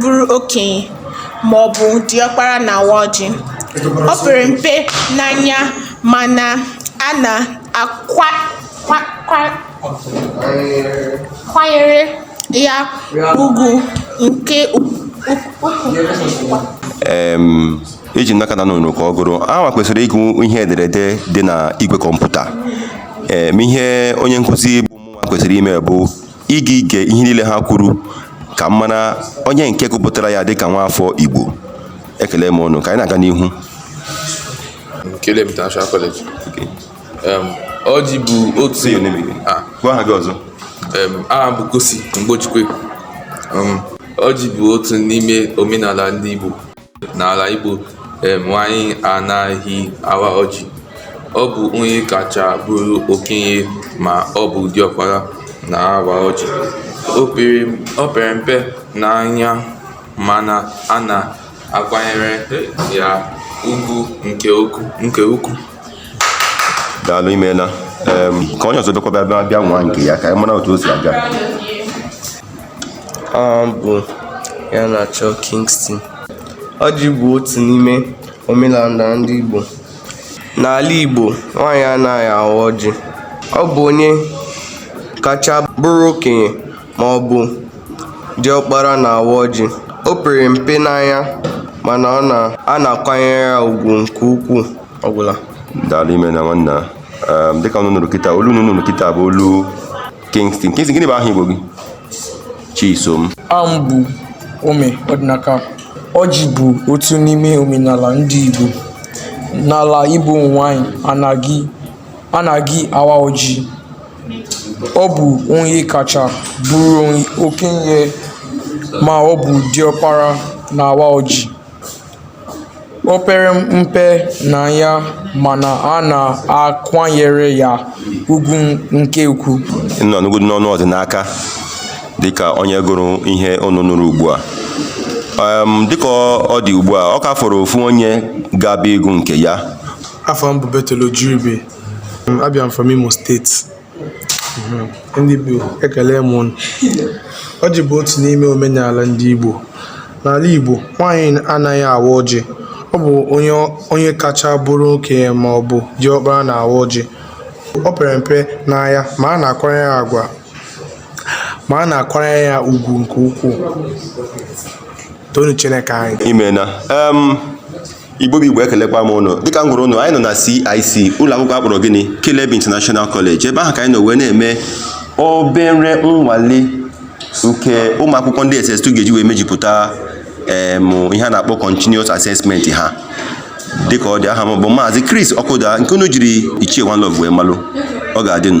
bụrụ okenye ma ọ bụ diọkpara na-awa ọjị o pere mpe n'anya mana a na-akwanyere ya ugwu nke ukwuu eji m n'aka na nụrụ ka ọ gụrụ hanwa kwesịrị ịgụ ihe ederede dị na igwe kọmputa ma ihe onye nkụzi bụ mụnwa kwesịrị ime bụ ịga ige ihe niile ha kwuru ka m mara onye nke gụpụtara ya dịka nwaafọ Igbo ekele m ụnụ ka anyị na-aga n'ihu Nkele m International College. Em, Ọjị bụ otu Ah, gwa aha gị ọzọ em, aha bụ Kosi Mgbechikwe. Em, Ọjị bụ otu n'ime omenala ndị Igbo. N'ala Igbo, um nwaanyị anaghị awa ọjị. Ọ bụ onye kacha bụrụ okenye ma ọ bụ diọkpara na-awa ọjị. O pere o pere mpe n'anya mana a na-akwanyere ya ugwu nke uku nke ukwuu. daalụ imeela ka onye ọzọ bịakwa bịa bịa nwaa nke ya ka anyị mara otu o si aga ọ bụ ya na-achọ Kingston ọjị bụ otu n'ime omenala ndị Igbo n'ala Igbo nwaanyị anaghị awa ọjị ọ bụ onye kacha bụrụ okenye ma ọ bụ diọkpara na-awa ọjị o pere mpe n'anya mana a na-akwanyere ya ugwu nke ukwuu ọgwụla daalụ imena nwanna um, dịka unu nụrụ kịta olu unu nụrụ kịta bụ olu Kingston Kingston gịnị bụ aha Igbo gị Chisom aha m bụ Ome Ọdịnaka ọjị bụ otu n'ime omenala ndị Igbo n'ala Igbo nwanyị anaghị anaghị awa ọjị ọ bụ onye kacha bụrụ okenye ma ọ bụ diọkpara na-awa ọjị O pere mpe n'anya mana a na-akwanyere ya ugwu nke ukwuu. Unu anụgodị n'ọnụ Ọdịnaka dịka onye gụrụ ihe unu nụrụ ugbu a. Em, Dịka ọ- ọ dị ugbu a, ọ ka fọrọ ofu onye ga-abịa ịgụ nke ya. Afa m bụ Bethel Ojiribe. Abịa m from Imo State. ndị Igbo ekele m unu ọjị bụ otu n'ime omenala ndị Igbo n'ala Igbo nwaanyị anaghị awa ọjị ọ bụ onye onye kacha bụrụ okenye ma ọ bụ diọkpara na-awa ọjị o pere mpe n'anya ma a na-akwanyere ya agwa ma a na-akwanyere ya ugwu nke ukwuu toonụ Chineke anyị imena em igbo bụ igbo ekelekwa m unu dịka m gwara unu anyị nọ na CIC ụlọ akwụkwọ a kpọrọ gịnị Caleb International College ebe ahụ ka anyị nọ wee na-eme obere nnwale nke ụmụ akwụkwọ ndị SS2 ga-eji wee mejupụta em ihe a na-akpọ continuous assessment ha dịka ọ dị aha m bụ maazị Chris Ọkụda nke unu jiri Ichie One Love wee malụ ọ ga-adịnụ